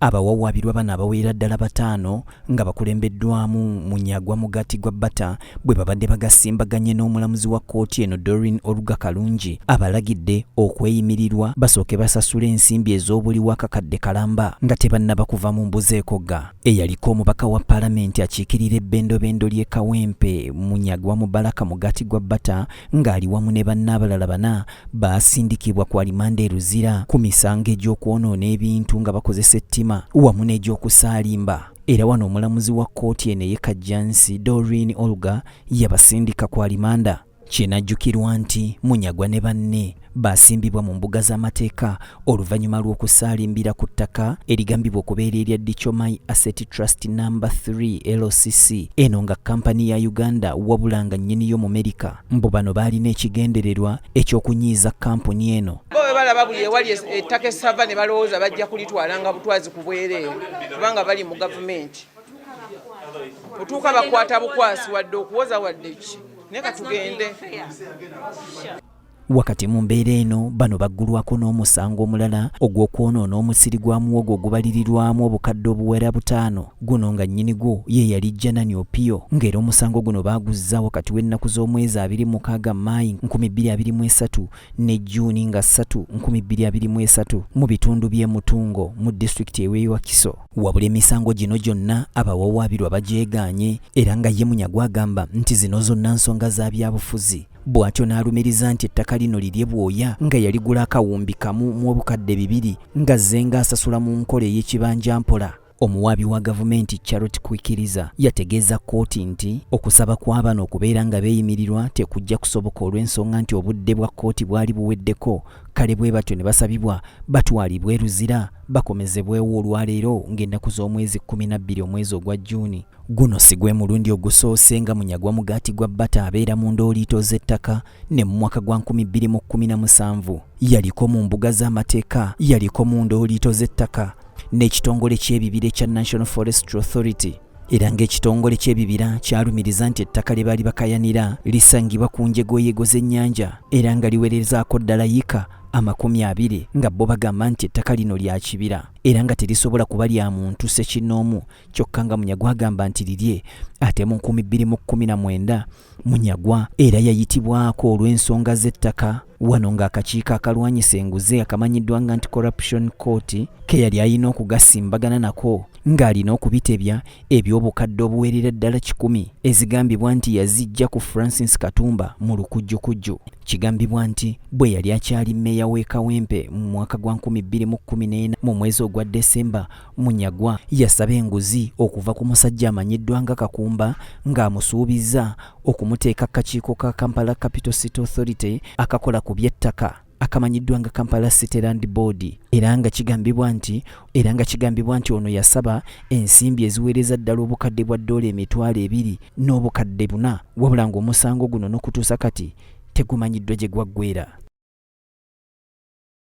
Abawawaabirwa bano abawerera ddala bataano nga bakulembeddwamu Munyagwa Mugaati gwa Bata bwe babadde bagasimbaganye n'omulamuzi wa kkooti eno Doreen Oluga Kalungi abalagidde okweyimirirwa basooke basasule ensimbi ez'obuliwo akakadde kalamba nga tebannaba kuva mu mbuzi ekogga. Eyaliko omubaka wa palamenti akiikirira ebbendobendo ly'e Kawempe Munyagwa Mubaraka Mugaati gwa Bata ng'ali wamu ne banne abalala bana baasindikibwa ku alimanda e Luzira ku misango egy'okwonoona ebintu nga bakozesa ettima wamu n'egy'okusaalimba era wano omulamuzi wa kkooti eno eye Kajjansi Doreen Olga yabasindika ku alimanda. Kinajjukirwa nti Munyagwa ne banne baasimbibwa mu mbuga z'amateeka oluvannyuma lw'okusaalimbira ku ttaka erigambibwa okubeera erya Dichomai Asset Trust No. 3 LCC eno nga kampani ya Uganda wabula nga nnyini yo Mumerika mbu bano baalina ekigendererwa eky'okunyiiza kampuni eno. Bo bwe balaba buli ewali ettaka essava ne balowooza bajja kulitwala nga butwazi ku bwereere kubanga bali mu gavumenti. Otuuka bakwata bukwasi wadde okuwoza wadde ki naye katugende. Wakati mu mbeera eno bano baggulwako n'omusango omulala ogw'okwonoona omusiri gwa muwogo ogubalirirwamu obukadde obuwera butaano guno nga nnyini gwo ye yali Janani Opio ng'era omusango guno baaguzza wakati w'ennaku z'omwezi abiri mukaaga Maayi nkumi bbiri abiri mu esatu ne Juuni nga ssatu nkumi bbiri abiri mu esatu mu bitundu by'e Mutungo mu disitulikiti ew'e Wakiso. Wabula emisango gino gyonna abawawaabirwa bagyegaanye era nga ye Munyagwa agamba nti zino zonna nsonga za byabufuzi. bw'atyo n'alumiriza nti ettaka lino lirye bwoya nga yaligula akawumbi kamu mu obukadde bibiri nga zzenga asasula mu nkola ey'ekibanja mpola omuwaabi wa gavumenti charot kwikiriza yategeeza kkooti nti okusaba kw'abano okubeera nga beeyimirirwa tekujja kusoboka olw'ensonga nti obudde bwa kkooti bwali buweddeko kale bwe batyo ne basabibwa batwalibwe eruzira bakomezebwewo olwaleero ng'ennaku z'omwezi 12 omwezi ogwa juuni Guno si gwe mulundi ogusoose nga Munyagwa mugaati gwa bbata abeera mu ndooliito z'ettaka ne mu mwaka gwa 2017 yaliko mu mbuga z'amateeka yaliko mu ndooliito z'ettaka n'ekitongole ky'ebibira ekya National Forestry Authority era ng'ekitongole ky'ebibira kyalumiriza nti ettaka lye baali bakayanira lisangibwa ku njegoyego z'ennyanja era nga liwerezaako ddala yika amakumi abiri nga bo bagamba nti ettaka lino lya kibira era nga terisobola kuba lya muntu sekinnoomu kyokka nga munyagwa agamba nti lirye ate mu nkumi bbiri mu kkumi na mwenda munyagwa era yayitibwako olw'ensonga z'ettaka wano ng'akakiiko akalwanyisa enguzi akamanyiddwa nga nti corruption court ke yali alina okugasimbagana nako ng'alina okubitebya eby'obukadde obuwerera ddala kikumi ezigambibwa nti yazijja ku francis katumba mu lukujjukujju kigambibwa nti bwe yali akyali mmeeya w'e kawempe mu mwaka gwa 2014 mu mwezi ogwa desemba Munyagwa yasaba enguzi okuva ku musajja amanyiddwa nga Kakumba ng'amusuubizza okumuteeka kakiiko ka Kampala Capital City Authority akakola ku by'ettaka akamanyiddwa nga Kampala City Land Board era nga kigambibwa nti era nga kigambibwa nti ono yasaba ensimbi eziweereza ddala obukadde bwa ddoola emitwalo ebiri n'obukadde buna wabula ng'omusango guno n'okutuusa kati tegumanyiddwa gye gwaggweera.